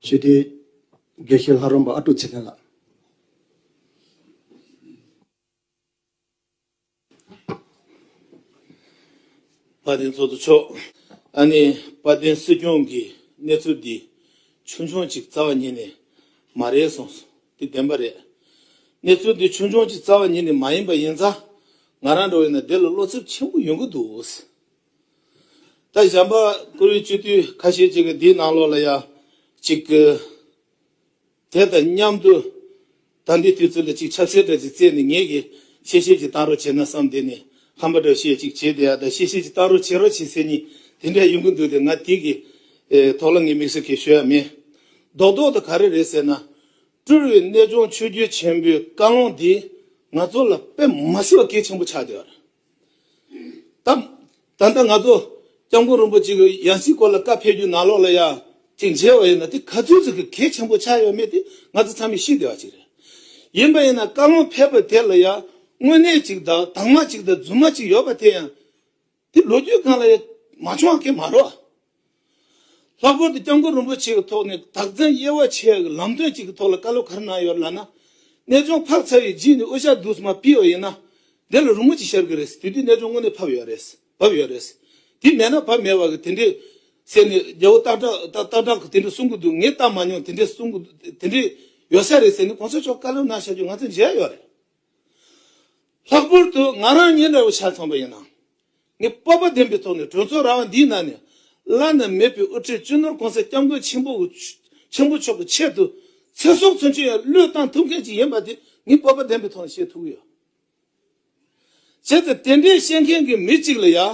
ཞི་བདེའི་དགེ་བཤེས་ལྷ་རམས་པ་ཨ་ཀྲུག་ཚེ་བརྟན་ལགས། དཔལ་ལྡན་ཚོགས་གཙོ་མཆོག། ད་ནི་དཔལ་ལྡན་སྲིད་སྐྱོང་གིས་གནས་ཚུལ་འདི་ཆུང་ཆུང་གཅིག་རྩ་བ་ཉིད་ནས་མ་རེད་གསུངས་སོང་དེ་བདེན་པ་རེད། གནས་ཚུལ་འདི་ཆུང་ཆུང་གཅིག་རྩ་བ་ཉིད་ནས་མ་ཡིན་པ་ཡིན་ཙང་ང་རང་འགྲོ་བའི་ན་བདེ་ལ་བློ་འཚབ་ཆེན་པོ་ཡོང་གི་འདུག་ད་གཞན་པ་ཀུ་རེ་གཅོད་དུས་ཁ་ཤས་ཅིག་གིས་འདིའི་ནང་ལོགས་ལ་ཡང་ཅིག་གི། དེ་དང་མཉམ་དུ་ད་འདི་དུས་ཚོད་ལ་ཅིག་ཆབ་སྲེད་འདྲ་ཅིག་བཙལ་ནས་ངེད་ཀྱིས་ཤེས་ཤེས་ཅིག་བཏང་རོགས་བྱས་ན་བསམ་དེ་ནས་ཧམ་པ་འདྲ་བཤད་ཅིག་བྱས་དེ་ཡང་ད་ཤེས་ཤེས་ཅིག་བཏང་རོགས་བྱེད་རོགས་བྱེད་ཟེར་གཉིས་དེ་འདྲ་ཡོང་གི་འདུག་དེ་ང་དེ་གི་ཐོག་ལ་ངས་མིག་ཟུར་གས་ཤོད་ཡ་མེད། རྡོག་རྡོག་ཏུ་ག་རེ་རེད་ཟེར་ན། སྤྲུལ་བའི་གནས་ལྗོངས་ཆོས་རྒྱུད་ཆེན་པོའི་བཀའ་ལུང་འདིས་ང་ཚོ་ལ་དཔེ་མ་སྲིད་པ་གལ་ཆེན་པོ་ཆགས་བསྡད་པ་རེད། དང། ད་ལྟ་ང་ཚོ ྋསྐྱབས་མགོན་རིན་པོ་ཆེ་གི་ཡང་སྲིད་སྐོར་ལ་བཀའ་ཕེབས་རྒྱུ་ནང་ལོགས་ལ་ཡང་ཅིག་མཇལ་བ་ཡིན་ན་དེ་ག་ཚོད་ཅིག་གི་གལ་ཆེན་པོ་ཆགས་ཡོད་མེད་དེ་ང་ཚོ་ཚང་མས་ཤེས་བདེ་བ་ཅིག་རེད། ཡིན་པ་ཡིན་ན་བཀའ་བློན་ཕེབས་པ་དེ་ལ་ཡང་དངོས་གནས་ཅིག་དང་དྭངས་མ་ཅིག་དང་རྫུན་མ་ཅིག་ཡོད་པ་དེ་ཡང་དེ་ལོ་རྒྱུས་སྒང་ལ་ཡང་མ་བྱུང་བ་ཁས་མ་རོགས། ལྷག་པར་དུ་སྐྱབས་མགོན་རིན་པོ་ཆེ་ཡི་ཐོག་ནས་དག་འཛིན་དབྱེ་བ་ཕྱེ་ཡག་གི་ལམ་སྟོན་ཅིག་གི་ཐོག་ལ་བཀའ་སློབ་གར་གནང་ཡོད་ལ་ན། གནས་ཆུང་ཕག་ཚ་བའི་རྗེས་ནས་དབུ་ཞྭ་བསྡུ་མ་སྤེལ་བ་ཡིན་ན། དེ་ལ་རུང་མོ་ཅིག་ཤར་གི་རེད། དེ་དུས་གནས་ཆུང་དངོས་གནས་ཕབ་ཡོད་རེད། བབས་ཡོད་རེད། དེ་མེད་ན་བབས་མེད་བ་གི་དེ་འདྲའི། ཟེར་ནས་རྒྱལ་བོ་སྟག་བྲག་གི་དེ་འདྲ་གསུང་གི་འདུག་ངས་བལྟ་མ་མྱོང་དེ་འདྲའི་གསུང་གི་འདུག་དེ་འདྲའི། ཡོད་ས་རེད་ཟེར་ནས་གོང་ས་མཆོག་བཀའ་སློབ་གནང་ཤག་རྒྱུ་ང་ཚོས་མཇལ་ཡོད་རེད། ལྷག་པར་དུ་ང་རང་ཉིན་རེ་བོ་ཆ་ཚང་པ་ཡིན་ནའང། ངས་སྤོབས་པ་ལྡན་པའི་ཐོག་ནས་གྲོས་ཚོགས་ར་བ་འདིའི་ནང་ནས་བླ་ན་མེད་པའི་དབུ་ཁྲིད་སྤྱི་ནོར་གོང་ས་སྐྱབས་མགོན་ཆེན་པོ་ཆེན་པོ་མཆོག་གི་ཆེད་དུ་ཚེ་སྲོག་ཚུན་ཆོད་ཡང་བློས་བཏང་ཐུབ་མཁན་ཞིག་ཡིན་པ་དེ་ངས་སྤོབས་པ་ལྡན་པའི་ཐོག་ནས་བཤད་ཐུབ་ཀྱི་ཡོད། བྱས་ཙང་དེ་འདྲའི་བཤད་མཁན་གྱི་མི་གཅིག་ལ་ཡང།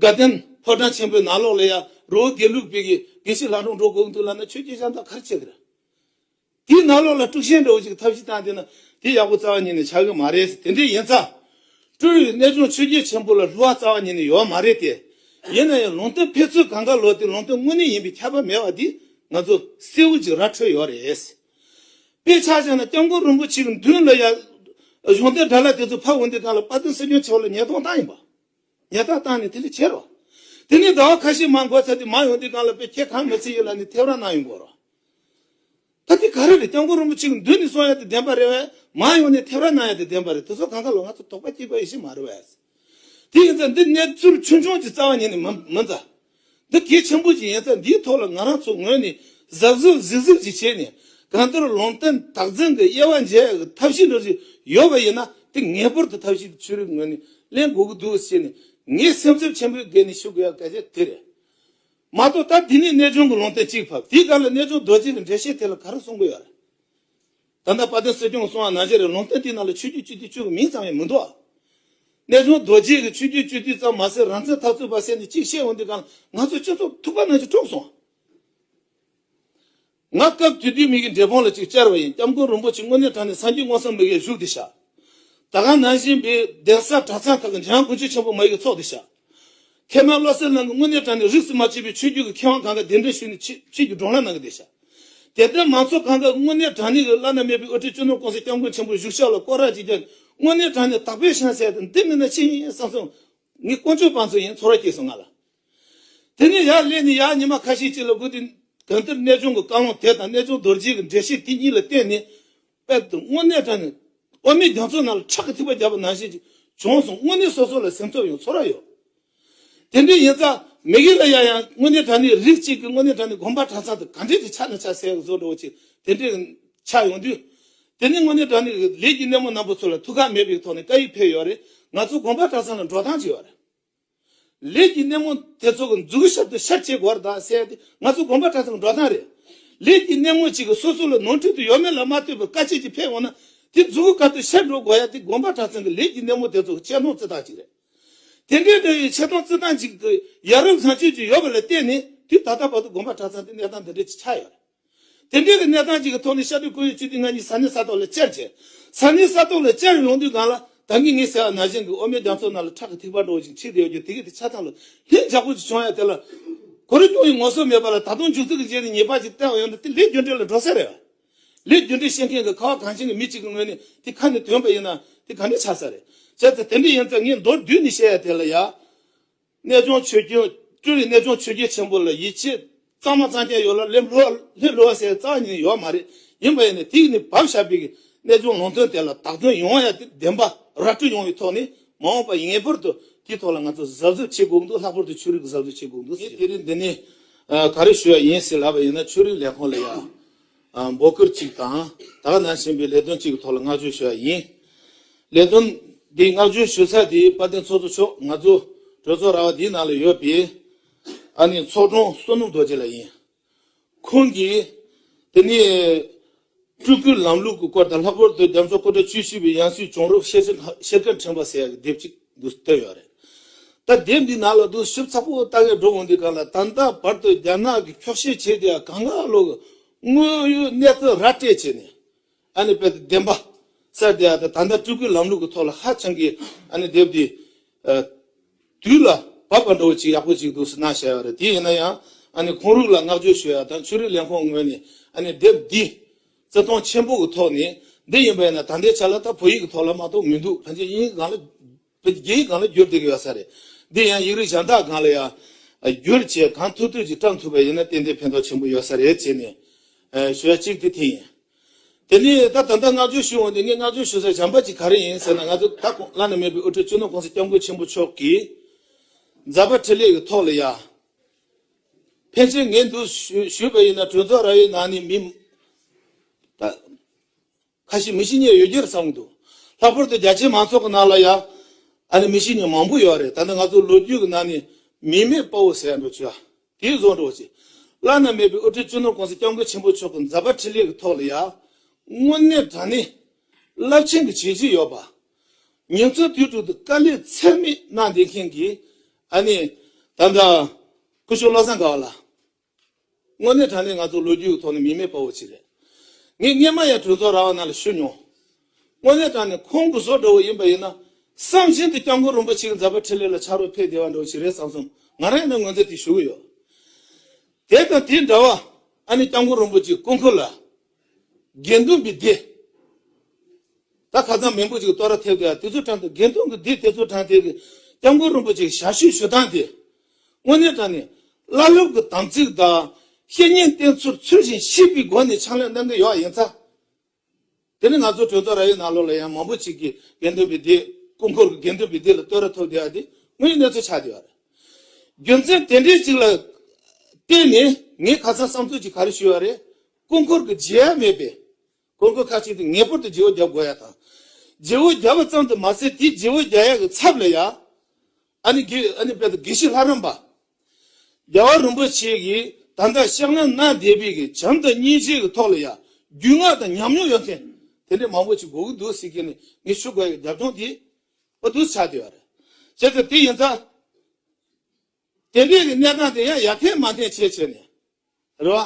དགའ་ལྡན་ཕོ་བྲང་ཆེན་པོའི་ནང་ལོགས་ལས་ཡར་རོའུ་དགེ་ལུགས་སྤེལ་གྱི་དགེ་བཤེས་ལྷ་འབྲོང་འགྲོ་དགོངས་འདུག་ལབ་ན་ཆོས་རྒྱལ་ཤང་དང་གར་ཆེ་གི་ར། དེའི་ནང་ལོགས་ལ་སྤྲུག་ཤན་འདྲ་བོ་ཅིག་ཐབས་ཤེས་བཏང་བསྡད་ན་དེ་ཡག་པོ་རྩ་བ་ཉིད་ནས་ཆགས་གི་མ་རེད་དེ་འདྲས་ཡིན་ཙང། སྤྲུལ་བའི་གནས་ལྗོངས་ཆོས་རྒྱལ་ཆེན་པོ་ལ་ལྷུ་བ་རྩ་བ་ཉིད་ནས་ཡོད་མ་རེད་དེ། ཡིན་ན་ཡང་ལུང་སྟོན་ཕེབས་ཚུལ་གང་ག་ལོ་དེ་ལུང་སྟོན་དངོས་གནས་ཡིན་པའི་ཁྱད་པར་མེད་བ་འདིས་ང་ཚོ་གསེའུ་ཅིག་ར་འཕྲོད་ཡོད་རེད། དཔེ་ཆ་བྱས་ན་སྐྱབས་མགོན་རིན་པོ་ཆེ་གི་མདུན་ལ་ཡར། གཞུང་དེབ་དྲ་ལ་དེ་ཚོ་ཕབ་འོང་དུས་གང་ལ་དཔའ་རྟུལ་སེམས་ཆུང་ཆེ་བ་ལ་ཉེས་རྡུང་བཏང་ཡིན་པ། ཉལ་ཐ་བཏང་ནས་དེ་ལས་བྱེད་རོགས། དེ་ནས་ཟླ་བ་ཁ་ཤས་མང་འགོར་ཚར་དུས་མ་ཡོང་དུས་གང་ལ་དཔེ་ཁྱེད་གང་མི་ཚེ་ཡོད་ལ་ནི་ཐེབས་ར་གནང་ཡོང་དགོས་རོགས། ད་དེ་ག་རེ་རེད་སྐྱབས་མགོན་རིན་པོ་ཆེ་གི་མདུན་ནས་སོང་ཡ་དེ་བདེན་པ་རེད་བས་མ་ཡོང་ནས་ཐེབས་ར་གནང་ཡ་དེ་བདེན་པ་རེད་དེ་ཚོ་གང་ག་ལོ་ང་ཚོ་དོགས་པ་སྐྱེས་དགོས་ཡེ་ཤེས་མ་རེད་བས། དེ་ཡིན་ཙང་འདི་གནས་ཚུལ་ཆུང་ཆུང་གཅིག་རྩ་བ་ཉིད་ནས་མི་མཛའ། འདི་གལ་ཆེན་པོ་ཞིག་ཡིན་ཚེ་འདིའི་ཐོག་ལ་ང་རང་ཚོ་ངོས་ནས་གཟབ་གཟབ་གཟིགས་གཟིགས་ཅིག་བྱས་ནས་གང་ལྟར་ལུང་བསྟན་དག་འཛིན་གྱི་དབྱེ་བ་འབྱེད་ཡག་ཐབས་ཤེས་འགྲོ་རྒྱུ་ཡོད་པ་ཡིན་ན་དེ་ངེས་པར་དུ་ཐབས་ཤེས་ཆོས་རིག་ངོས་ནས་གླེང་དགོས་ཀྱི་འདུག་ཅེས་ནས་ངས་སེམས་འཚབ་ཆེན་པོའི་སྒོས་ནས་ཞུ་དགོས་ཡག་གལ་ཆེན་དེ་རེད། མ་གཏོགས་ད་དེ་ནས་གནས་ཆུང་གི་ལུང་བསྟན་གཅིག་ཕབ་དེའི་སྒང་ལ་གནས་ཆུང་རྡོ་རྗེ་གི་འགྲེལ་བཤད་དེ་ལ་ག་རེ་གསུང་གི་ཡོད་རེད། ད་ལྟ་དཔའ་སྟོན་སྲིད་སྐྱོང་སོང་བ་ན་གཞི་རི་ལུང་སྟོན་དེའི་ནང་ལ་ཆོས་རྒྱུད་སྤྱི་འཐུས་བཅུ་གི་མིང་ཙམ་ཡང་མི་འདུག་ཨ། གནས་ཆུང་རྡོ་རྗེས་གི་ཆོས་རྒྱུད་སྤྱི་འཐུས་ཙམ་མ་ཟད་རང་བཙན་འཐབ་རྩོད་པ་བསད་ནས་གཅིག་བཤད་འོང་དུས་ཀྱང་ང་ཚོ་སྤྱི་ཚོགས་ཐུག་པ་ན་གཞི་དཀྲོགས་སོང་ཨ། ང་སྐབས་དུས་དུས་མིག་གི་འབྲས་སྤུངས་ལ་ཅིག་བཅར་བ་ཡིན་སྐྱབས་མགོན་རིན་པོ་ཆེ་དངོས་གནས་དྲངས་ནས་སངས་རྒྱས་དངོས་སམ་མི་གའི་བཞུགས་དེ་བཞག། ད་ག་ནང་བཞིན་པའི་གདན་ས་གྲྭ་ཚང་ཁག་གི་འཇང་དགུན་ཆོས་ཆེན་པོ་མ་ཡིག་གི་ཚོགས་དེ་བཞག། ཐེ་ན་བློ་གསལ་ནང་གི་དངོས་གནས་དྲ་ནས་རིགས་སུ་མ་ཆུད་པའི་ཆོས་བརྒྱུད་ཀྱི་མཁས་དབང་གང་ག་གདན་འདྲེན་ཞུས་ནས་ཆོས་བརྒྱུད་སྒྲོག་ལངས་གནང་གི་འདུག་བྱ། དེ་ལྟའི་མང་ཚོགས་གང་ག་དངོས་གནས་དྲ་གནས་ཀྱི་བླ་ན་མེད་པའི་དབུ་ཁྲིད་གཅོད་ནོར་ཀུང་སིའི་སྐྱབས་མགོན་ཆེན་པོ་བཞུགས་ཤག་ལ་སྐོར་རགས་ཅིག་བརྒྱབ་ནས་དངོས་གནས་དྲ་ནས་དག་པའི་ཤན་བསལ་ཏེ་འདི་མིན་ན་ཅི་ཡིན་བསམ་སོང། ངའི་དཀོན་མཆོག་དཔའ་མཚོ་ཡིན་ཚོར་བ་སྐྱེས་སོང་ང་ལ། དེ་ནས་ཡར་སླེབས་ནས་ཡར་ཉི་མ་ཁ་ཤས་ཅིག་ལ་སྒུག་དེ། གང་ལྟར་གནས་ཆུང་གི་བཀའ་ལུང་དེ་དང་གནས་ཆུང་རྡོ་རྗེས་ཀྱི་འགྲེལ་བཤད་དེ་གཉིས་ལ་བརྟེན་ནས། པད་དུ་སྔོ་སྣས་བཀྲ་ནས། འོ་མའི་རྒྱ་མཚོའི་ནང་ལ་ཁྲག་གི་ཐིགས་པ་བརྒྱབ་པ་ནང་བཞིན་གྱི་ལྗོངས་སུ་སྔོ་སྣས་སོ་སོ་ལ་སེམས་ཚོར་ཡང་ཚོར་བ་ཡོད། དེ་འདྲའི་ཡིན་ཙང་མི་གཞན་ལ་ཡང་ཡང་སྔོ་སྣས་བཀྲ་ནས་རིགས་གཅིག་གི་སྔོ་སྣས་བཀྲ་ནས་དགོན་པ་གྲྭ་ཚང་དུ་ག་འདྲའི་ཆེ་ཆ་ནས་ཆ་ཟད་བཟོ་འགྲོ་བ་ཅིག་དེ་འདྲའི་ཆགས་ཡོང་དུས། དེ་ནས་སྔོ་སྣས་བཀྲ་ནས་ལས་ཀྱི་སྣེ་མོ་རྣམ་པ་ཚོ་ལ་ཐུགས་ཁག་མེད་པའི་ཐོག་ནས་བཀའ་ཡིག་ཕེབས་ཡོད་རེད་ང་ཚོ་དགོན་པ་གྲྭ་ཚང་ལ་འགྲོ་སྟངས་ཅི་ཡོད་རེད། ལས་ཀྱི་སྣེ་མོ་དེ་ཚོ་གི་མཛུ་གུ་ཞབས་ཏུ་ཤར་བྱེད་སྒོར་དང་བསྲེས་ཏེ་ང་ཚོ་དགོན་པ་གྲྭ་ཚང་འགྲོ་སྟངས་རེད། ལས་ཀྱི་སྣེ་མོ་ཅིག་གིས་སོ་སོ་ལ་ནོར་འཁྲུལ་དུ་ཡོད་མེད་ལ་མ་ལྟོས་པར་དཀའ་སྤྱད་ཀྱིས་ཕེབས་འོང་ན་དེ་མཛུ་གུ་ག་ཏུ་ཤར་འགྲོ་དགོས་ཡ་དེ་དགོན་པ་གྲྭ་ཚང་གི་ལས་ཀྱི་སྣེ་མོ་དེ་ཚོ་གི་ཆེ་མཐོང་བརྩི་སྟངས་ཅིག་རེད། དེ་འདྲའི་འདྲ་བའི་ཆེ་མཐོང་བརྩི་སྟངས་ཅིག་གི་ཡ་རབས་བཟང་སྤྱོད་ཅིག་ཡོད་པ་ལ་བརྟེན་ནས་དུས་ད་ལྟ་བར་དུ་དགོན་པ་གྲྭ་ཚང་དེ་གནས་སྟངས་འདི་འདྲའི་ཆགས་ཡོད་རེད། དེ་འབྲེལ་གྱི་གནས་སྟངས་གཅིག་གི་ཐོག་ནས་ཤར་ཏུ་ཁོར་ཡུག་སྤྱི་ཐུས་ལྔ་གཉིས་ས་གནས་ས་ཐོག་ལ་བཅར་ཆེད། ས་གནས་ས་ཐོག་ལ་བཅར་ཡོང་དུས་སྒང་ལ་ད་གིན་ངེད་ཟེར་བ་ན་གཞན་གྱི་ཨོ་མའི་རྒྱ་མཚོ་ནང་ལ་ཁྲག་གི་ཐིགས་པ་འགྲོ་བཞིན་མཆིས་བསྡད་ཡོད་རྒྱུ་དེ་གས་དེ་ཆ་ཚང་ལ་ལྷིང་འཇགས་པོ་ཞིག་བྱུང་ཡ་དེ་ལ་གོ་རེ་གྱོང་ཡོད་ངོ་སོ་མེད་པ་ལ་ད་དུང་མཇུག་རྩིག་གི་རྗེས་ནས་ཉེས་པ་ཞིག་བསྟན་བ་ཡོད་ན་དེ་ལས་རྒྱུ་འབྲས་ལ་འགྲོ་ས་རེད། ལས་རྒྱུ་འབྲས་ཤེས་མཁན་གྱི་ཁ་བ་གངས་ཅན་གྱི་མི་གཅིག་གི་ངོས་ནས་དེ་ཁ་ནས་དོན་པ་ཡིན་ན་དེ་ག་འདྲ་ཆགས་ས་རེད། བྱས་ཙང་དེ་འདྲ་ཡིན་ཙང་ངས་མདོར་བསྡུས་ནས་བཤད་ཡ་དེ་ལ་ཡ། རྣལ་འབྱོར་ཆོས་སྐྱོང་སྤྲུལ་རིགས་རྣལ་འབྱོར་ཆོས་རྒྱལ་ཆེན་པོ་ལ་ཡིད་ཆེས་གཙང་མ་གཙང་རྐྱང་ཡོད་ལ་ལས་བསླུ་བ་བསླུ་བ་སེལ་གཙང་ཉིད་ཡོད་མ་རེད་ཡིན་པ་ཡིན་ནས་དེ་ཡིན་ནི་བབ་ཞབས་པའི་གནས་ལྗོངས་ལུང་སྟོན་དེ་ལ་དག་དོན་ཡོང་བ་ཡང་དེ་བདེན་པ་ར་སྤྲོད་ཡོང་བའི་ཐོག་ནས་མ་འོངས་པ་ངེས་པར་དུ་དེའི་ཐོག་ལ་ང་ཚོ་གཟབ་གཟབ་བྱེད་དགོས་འདུག་ལྷག་པར་དུ་ཆོས་རིག་གི་གཟབ་གཟབ་བྱེད་དགོས་འདུག་ཟེར། ངས་དེ་རིང་འདི་ནས་ག་རེ་ཞུ་ཡ་ཡིན་ཟེར་ལབ་པ་ཡིན་ན་ཆོས་རིག་ལས་ཁང་ལ་ཡང། འབོད་སྐུལ་གཅིག་དང་དག་གནང་བཞིན་པའི་ལས་དོན་གཅིག་གི་ཐོག་ལ་བསྔགས་བརྗོད་ཞུ་བ་ཡིན། ལས་དོན་འདི་བསྔགས་བརྗོད་ཞུ་ས་དེ་དཔལ་ལྡན་ཚོགས་གཙོ་མཆོག་ང་ཚོ་གྲོས་ཚོགས་ར་བ་འདིའི་ནང་ལ་ཡོད་པའི་ཨ་ནི་ཚོགས་དྲུང་བསོད་ནམས་རྡོ་རྗེ་ལགས་ཡིན། ཁོང་གིས་དེ་ནས་སྤྲུལ་སྐུའི་ལམ་ལུགས་ཀྱི་སྐོར་དང་ལྷག་པར་དུ་རྒྱ་མཚོ་སྐུ་དྲག་བཅུ་བཞི་པའི་ཡང་སྲིད་བྱུང་རབས་བཤད་སྒྲ་ཕྲེང་བ་ཟེར་ཡག་གི་དེབ་ཅིག། དགོས་བསྟོད་ཡོད་རེད་ད། དེབ་འདི་ནང་ལ་གདུང་ཞུབ་ཚ་པོ་ལྟ་གི་འགྲོ་འོང་འདི་ག་ལ་ད་ལྟ་བར་དུ་རྒྱ་ནག་གི་འཁྱོག་བཤད་བྱས་དེ་ཡང་གང་ལ་ལོ་གི་དངོས་ཡོད་གནས་ཚུལ་ར་སྤྲད་བྱས་ནས་ཨ་ནི་དཔེ་དེབ་བདེན་པ་གསར་དེ་ཡང་ད་ད་ལྟ་སྤྲུལ་སྐུའི་ལམ་ལུགས་ཀྱི་ཐོག་ལ་ཧ་ཅང་གི་ཨ་ནི་དེབ་འདི་དུས་ལ་བབ་པ་འདྲ་བོ་ཅིག་ཡག་པོ་ཅིག་འདུག་ཟེར་ན་བྱས་ཡོད་རེད་དེ་ཡིན་ན་ཡང་ཨ་ནི་ཁོང་རུག་ལ་བསྔགས་བརྗོད་ཞུ་ཡ་དང་ཆོས་རིག་ལས་ཁོངས་ངོས་ནས་ཨ་ནི་དེབ་འདི། བརྩེ་དུང་ཆེན་པོ་གི་ཐོག་ནས་འདི་ཡིན་པས་ན་ད་ལྟའི་ཆ་ལ་ད་བོད་ཡིག་གི་ཐོག་ལ་མ་གཏོགས་མི་འདུག་ཕན་ཆད་དབྱིན་ཡིག་སྒང་ལ། རྒྱ་ཡིག་སྒང་ལ་བསྒྱུར་ཏེ་ཡོད་ས་རེད། འདི་ཡང་ཡིག་རིགས་གཞན་དག་སྒང་ལ་ཡང། བསྒྱུར་བྱས་གང་ཐུབ་ཐུབ་ཅིག་བཀྲམ་ཐུབ་པ་ཡིན་ན་ཏན་ཏན་ཕན་ཐོགས་ཆེན་པོ་ཡོད་ས་རེད་ཅེས་ནས། ཞུ་བ་གཅིག་དེ་དེ་ཡིན། དེ་ནས་ད་ད་ལྟ་བསྔགས་བརྗོད་ཞུ་འོང་དུས་ངས་བསྔགས་བརྗོད་ཞུ་སའི་བྱམས་པ་ཅིག་ག་རེ་ཡིན་ཟེར་ན་ང་ཚོ་ད་གོང་བླ་ན་མེད་པའི་དབུ་ཁྲིད་གཅུང་ནོར་ཀུང་ཟི་སྐྱབས་མགོན་ཆེན་པོ་མཆོག་གིས། མཛད་པ་ཁྲི་ལས་ཀྱི་ཐོག་ལ་ཡང། ཕལ་ཆེར་ངས་འདུག་ཞུས་པ་ཡིན་ན་གྲོས་ཚོགས་ར་བའི་ནང་ནས་མི་ཁ་ཤས་མི་ཤི་ཉེར་ཡོད་རྒྱུར་བསམ་གྱི་འདུག་ལྷག་པར་དུ་རྒྱ་ཆེའི་མང་ཚོགས་ཀྱི་ནང་ལ་ཡང་མི་ཤི་ཉེར་མང་པོ་ཡོད་རེད་ད་ནི་ང་ཚོ་ལོ་རྒྱུས་ཀྱི་ནང་ནས་མི་མེད་དཔའ་བོ་ཟེར་ཡག་འགྲོ་བྱོས་ཨ། དེ་བཟོ་འགྲོ་བྱོས། བླ་ན་མེད་པའི་དབུ་ཁྲིད་གཅོད་ནོར་ཀུང་སི་སྐྱབས་མགོན་ཆེན་པོ་མཆོག་གི་མཛད་པ་འཕྲིན་ལས་ཀྱི་ཐོག་ལ་ཡང་དངོས་གནས་དྲང་གནས་རླབས་ཆེན་གྱི་བྱས་རྗེས་ཡོད་པ། ཉིན་བཅུ་དུས་དྲུག་ཏུ་དཀའ་ལས་ཚད་མེད་གནང་བསྡད་མཁན་གྱི་ཨ་ནེ་དམ་བཅའ་སྐུ་ཞུ་བློ་བཟང་དགའ་བ་ལགས། དངོས་གནས་དྲང་གནས་ང་ཚོ་ལོ་རྒྱུས་ཀྱི་ཐོག་ནས་མི་མེད་དཔའ་བོ་ཅིག་རེད། ངས་སྔན་མ་ཡང་གྲོས་ཚོགས་ར་བ་ནང་ལ་ཞུ་མྱོང། དངོས་གནས་དྲང་ནས་ཁོང་སྐུ་སྲོག་འདྲ་བོ་ཡིན་པ་ཡིན་ན་བསམ་བཞིན་དུ་སྐྱབས་མགོན་རིན་པོ་ཆེ་གི་མཛད་པ་ཁྲི་ལས་ལ་ཕྱག་རོགས་ཕེབས་བདེ་བ་འདྲ་བོ་ཞིག་རེད་བསམ་སོང་ང་རང་ཡང་ན་ངོས་འཛིན་དེ་ཞུ་གི་ཡོད། དེ་དང་དེ་འདྲ་བ་ཨ་ནེ་སྐྱབས་མགོན་རིན་པོ་ཆེའི་སྐུ་འཁོར་ལ། དགེ་འདུན་གྱི་སྡེ། ད་ཁ་སང་མི་འབོར་ཅིག་བསྟོད་ར་ཐེབས་དེ་དེ་ཚོ་དྲངས་དེ་དགེ་འདུན་གྱི་སྡེ་དེ་ཚོ་དྲངས་དེ་གི་སྐྱབས་མགོན་རིན་པོ་ཆེ་ཞལ་བཤུས་ཞུ་སྟངས་དེ། དངོས་གནས་དྲངས་ནས་བླ་སློབ་ཀྱི་དམ་ཚིག་དང་བཤེས་གཉེན་བསྟེན་ཚུལ་ཚུལ་བཞིན་བཤིས་པའི་སྒོ་ནས་ཕྱག་ལས་གནང་གི་ཡོག་ཡིན་ཚ། དེ་ནས་ང་ཚོ་གྲོས་ཚོགས་ར་ཡོད་ནང་ལོགས་ལ་ཡང་མང་པོ་ཅིག་གི་དགེ་འདུན་གྱི་སྡེ་སྐུ་འཁོར་གྱི་དགེ་འདུན་གྱི་སྡེ་ལ་བསྟོད་ར་ཐོབ་དེ་ཡ་དེ་དངོས་ཡོད་གནས་ཚུལ་ཆགས་དེ་ཡོག་རེད། རྒྱུ་མཚན་དེ་འདྲའི་ཅིག་ལ་བརྟེན་ནས་ངས་ཁ་སང་བསམ་ཚུལ་ཅིག་ག་རེ་ཞུས་ཡོག་རེད། སྐུ་འཁོར་གྱི་རྗེས་ཡལ་མེད་པས། སྐུ་འཁོར་ཁ་ཅིག་ཏུ་ངེས་པར་དུ་རྗེ་བོ་བརྒྱ་བགོ་ཡ་དང། རྗེ་བོ་བརྒྱ་བ་ཙམ་དུ་མ་ཟད་དེའི་རྗེ་བོ་བརྒྱ་ཡ་གི་ཚབ་ལ་ཡང། ཨ་ནི་དགེ། ཨ་ནི་དཔལ་དུ་དགེ་བཤེས་ལྷ་རམས་པ། རྒྱལ་བ་རིན་པོ་ཆེ་གིས་ད་ལྟ་ཤཱཀ་ན་ན་དེ་བི་གི་བྱམས་དང་གཉིས་བྱེད་ཀྱི་ཐོག་ལ་ཡང་རྒྱུས་མངའ་དང་ཉམས་མྱོང་ཡོད་མཁན་དེ་འདྲའི་མང་པོ་ཞིག་བགོ་གི་འདུག་སྲིད་སྐྱེས་ནས་ངས་ཆོས་བགོ་ཡ་གི་རྒྱབ་ལྗོངས་དེ། བ་དུ་ཆ་དེ་བ་རེད། བྱས་ཙང་དེ་ཡིན་ཙང། དེ་སྐད་ཀྱི་གནས་སྟངས་དེ་ཡང་ཡར་ཐེན་མར་ཐེན་བྱས་བྱས་ནས་རེད་བ།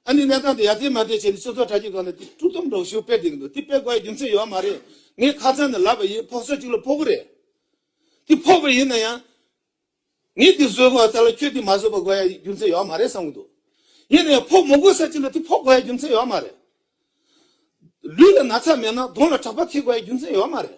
ཨ་ནི་གནས་སྟངས་དེ་ཡར་ཐེན་མར་ཐེན་བྱས་ནས་ཆུ་ཚོད་གྲ་གཅིག་གོང་ནས་དེ་ཕྲུག་ཐུམ་སྒྲོག་ཞིག་སྤེལ་བསྡད་ཀྱི་འདུག་དེ་སྤེལ་དགོས་ཡ་རྒྱུ་མཚན་ཡོད་མ་རེད། ངས་ཁ་ཚང་ནས་ལབ་པ་ཡིན་ཕོག་ཚོད་ཅིག་ལ་ཕོག་གི་རེད། དེ་ཕོག་པ་ཡིན་ན་ཡང། ངས་དེ་བཟོས་དགོས་ཡ་ས་ལ་ཁྱོས་དེ་མ་བཟོས་པ་དགོས་ཡ་རྒྱུ་མཚན་ཡོད་མ་རེད་བསམ་གྱི་འདུག་ཡིན་ན་ཡང་ཕོག་མོ་དགོས་ས་ཅིག་ལ་དེ་ཕོག་དགོས་ཡ་རྒྱུ་མཚན་ཡོད་མ་རེད། ལུས་ལ་ན་ཚ་མེད་ན་གདོང་ལ་གྲགས་པ་ཐེབས་དགོས་ཡ་རྒྱུ་མཚན་ཡོད་མ་རེད།